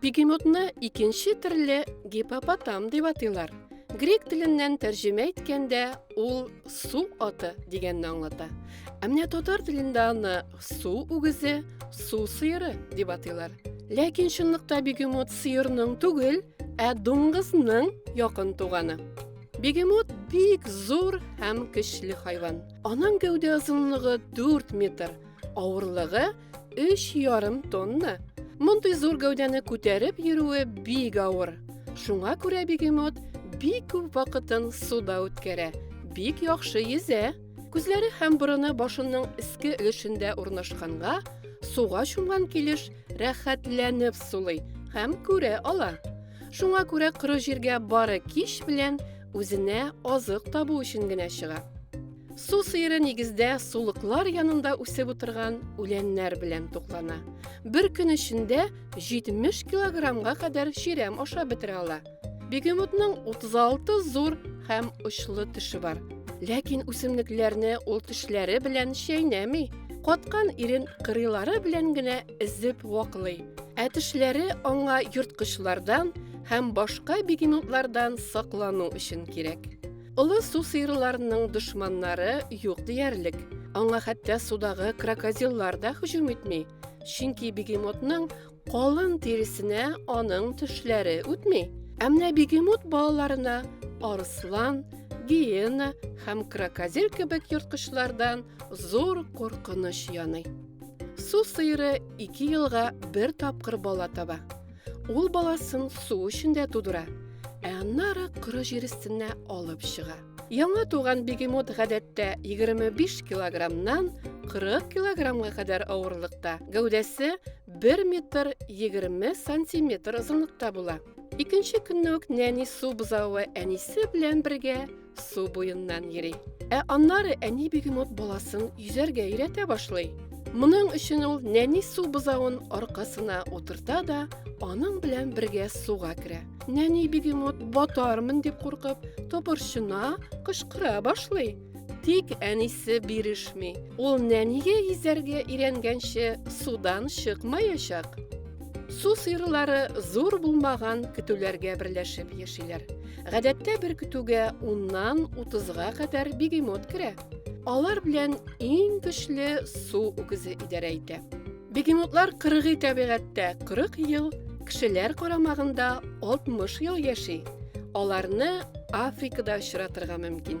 Бегемотны икенче төрле гипопотам дип атыйлар. Грек теленнән тәрҗемә иткәндә ул су аты дигәнне аңлата. Ә менә татар телендә аны су үгезе, су сыеры дип атыйлар. Ләкин чынлыкта бегемот сыерның түгел, ә дуңгызның якын туганы. Бегемот бик зур һәм көчле хайван. Аның гәүдә озынлыгы 4 метр, авырлыгы Өч ярым тонна. Мондый зур гәүдәне күтәреп йөрүе бик авыр. Шуңа күрә бегемот бик күп вакытын суда үткәрә, бик яхшы йөзә. Күзләре һәм борыны башының иске өлешендә урнашканга, суга чумган килеш рәхәтләнеп сулый һәм күрә ала. Шуңа күрә коры җиргә бары кич белән үзенә азык табу өчен генә чыга. Су сыеры нигездә сулыклар янында үсеп утырган үләннәр белән туклана. Бер көн эчендә 70 килограммга кадәр чирәм ашап бетерә ала. Бегемотның 36 зур һәм очлы теше бар. Ләкин үсемлекләрне ул тешләре белән чәйнәми, каткан ирен кырыйлары белән генә эзеп ваклый. Ә тешләре аңа йорткычлардан һәм башка бегемотлардан саклану өчен кирәк. Олы су сыерларының дошманнары юк диярлек. Аңа хәтта судагы крокодиллар да һөҗүм итми. Чөнки бегемотның калын тиресенә аның төшләре үтми. Ә менә бегемот балаларына арыслан, гиена һәм крокодил кебек ерткычлардан зур куркыныч яный. Су сыеры ике елга бер тапкыр бала таба. Ул баласын су эчендә тудыра, ә аннары коры җир өстенә алып чыга. Яңа туган бегемот гадәттә 25 килограммнан 40 килограммга кадәр авырлыкта, гәүдәсе 1 метр 20 сантиметр озынлыкта була. Икенче көнне үк нәни су бозавы әнисе белән бергә су буеннан йөри. Ә аннары әни бегемот баласын йөзәргә өйрәтә башлый. Моның өчен ул нәни су бозавын аркасына утырта да, аның белән бергә суга керә. Нәни бегемот батармын дип куркып, топырчына, кычкыра башлый. Тик әнисе бирешми. Ул нәнигә йөзәргә өйрәнгәнче судан чыкмаячак. Су сыерлары зур булмаган көтүләргә берләшеп яшиләр. Гадәттә бер көтүгә уннан утызга кадәр бегемот керә. Алар белән иң көчле су үгезе идарә итә. Бегемотлар кыргый табигатьтә 40 ел, кешеләр карамагында 60 ел яши. Аларны Африкада очратырга мөмкин.